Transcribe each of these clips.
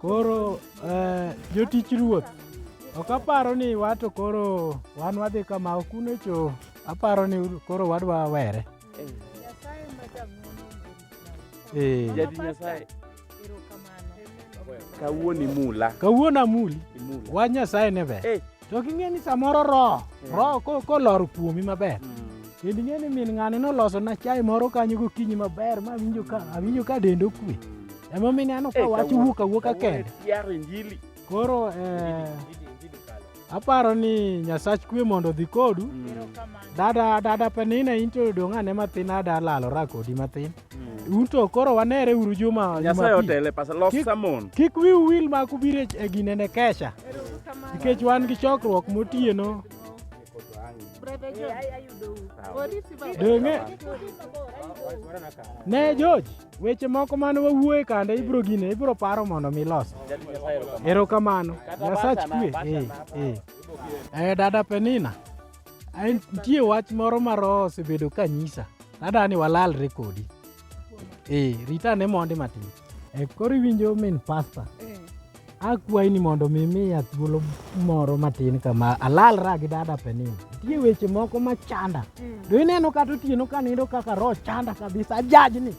Koro eh, jotich ruoth ok aparo ni wato koro wan wadhi kama ok unecho aparo ni koro wadwa were. Nyasaye ma jang'wono orit lawe. Eh. Jadi Nyasaye kawuoni mula kawuona muli imula wach nyasaye ne ber Eh. to king'e ni samoro roho Eh. roho ko- kolor kuomi maber kendo ing'e ni min ng'ani noloso na chai moro kanyo gokinyi maber ma awinjo ka awinjo ka dende okwe emomiyo ineno ka Eh, wach kawuono- wuok awuoka kawuono kende tiaro injili koro eh, Injili- injili kalo. Aparo ni Nyasach kwe mondo odhi kodu. Dada dada Penina in to dong' ane matin ada lalora kodi matin. Un to koro wanere uru juma Nyasaye Jumapil. otele pasa lof Kik- samon. Kik wiu wil ma kubire e gine ne kesha. Nikech wan gi chokruok motieno. Donge ne George Weche moko mane wawuoye kande ibro gine ibro paro mondo mi los. Erokamano. Nyasach kwe. Eh, eh. Eh, dada Penina. Ain nitie wach moro ma roho osebedo ka nyisa. Dada ni walalre kodi. Eh, rita ne mondi matin. Eh, koro iwinjo min pasta. Akwayi ni mondo mi miya thuolo moro matin kama alalra gi dada Penina. Nitie weche moko ma chanda. Mm. Do ineno kata otieno ka nindo kaka roho chanda kabisa ajajni.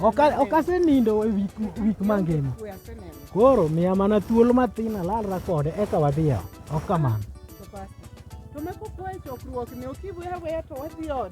Ok asenindo e wik mangima. Koro miya mana thuolo matin alalra kode eka wadhi ot. Ok kamano. To meko kwayo chokruok ni ok iweya weya to wadhi ot.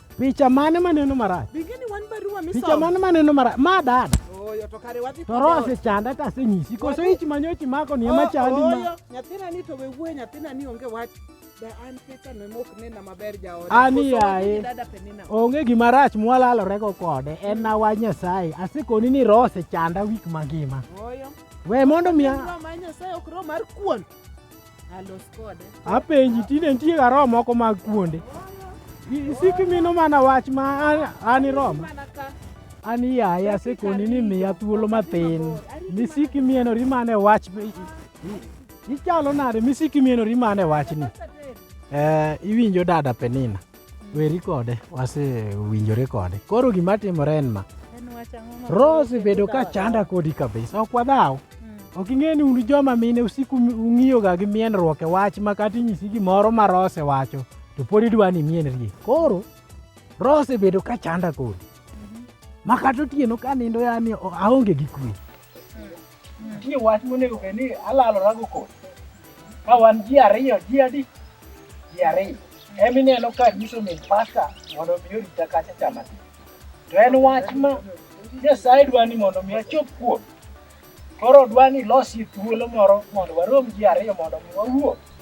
Picha mane maneno marach? Bingeni wan barua misomo. Picha mane maneno marach? Ma dada. Oyo to kare wadhi. To rose chanda ta senyisi. Koso ich manyochi mako ni ema chandi ma. Oyo nyathina ni to we wuoye nyathina ni onge wach. Ani yaye onge gima rach mwalalorego kode en mm. na wach Nyasaye asekoni ni roho osechanda wik mangima we mondo miya apenji tinde nitie ga roho moko mag kuonde isiki mino mana wach ma an iromo an iyaye asekoni ni miya thuolo mathin misiki mienori mana e wach ichalo nade misiki mienori mana e wachni eh, iwinjo dada penina weri kode wasewinjore kode koro gima timore en ma rose bedo ka chanda kodi kabisa ok wadhaw hmm. ok ing'e ni un joma mine usiku ung'iyoga gi mienruok e wach ma kata inyisi gimoro ma rose wacho to pod idwa ni mienrie koro rose bedo ka chanda kodi mhm. ma kata otieno ka nindo yani aonge gi kwe Nitie wach monego bed ni alalorago kod ka wan ji ariyo ji adi ji ariyo ema ineno ka nyiso min pasta mondo mi orita kacha chama ti to en wach ma nyasaye dwa ni mondo mi achop kuom koro dwa ni losi thuolo moro mondo warom ji ariyo mondo mi wawuo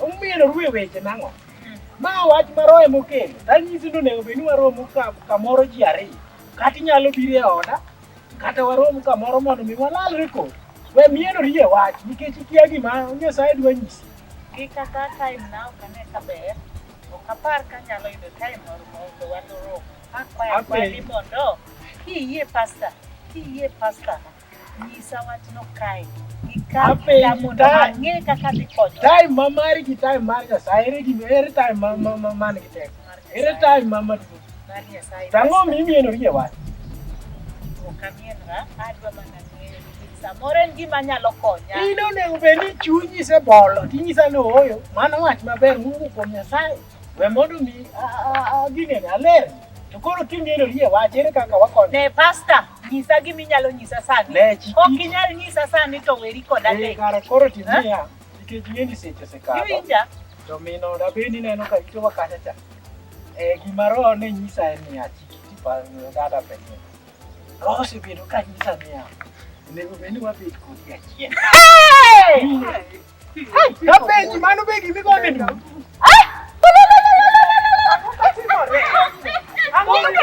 Omiyo ruwe weche nang'o? Ma wach ma roho ema okelo. Tanyisi ni onego bed ni waromo ka- kamoro ji ariyo. Kata inyalo biro e oda, kata warom kamoro mondo mi walalre kodi. We mieno rie wach nikech ikia gima Nyasaye dwa nyisi. Gi kata time na ok ane ka ber. Ok apar ka anyalo yudo time moro mondo waloro. Akwayo Amen. akwani mondo kiyie pasta, kiyie pasta, Nyisa wachno kae. Time ma mari gi time mar Nyasaye ere gima ere time ma ma ma man gi teko. Ere time ma ma duong'. Tang'o mi imieno rie wach. Samoro en gima nyalo konya. In onego bed ni chunyi sebolo tinyisa ni ooyo mano wach maber mowuok kuom Nyasaye. We mondo mi ginene aler. To koro king'eyo yie wach ere kaka wakonyo. Ne pasta, nyisa gimi nyalo nyisa sani. Ne chiki. Ok inyal nyisa sani to weri kod ade. Eh, kara koro timia. Nikech ng'eni seche sekalo. Iwinja. To mino da beni neno ka ito wakacha cha. Eh, gima roho ne nyisa en ni achiki tipa dada penye. Roho se bedo ka nyisa niya. Onego beni wabed kodi achiel. Hey! Kapenzi mano be gimi gone ni. Thank you.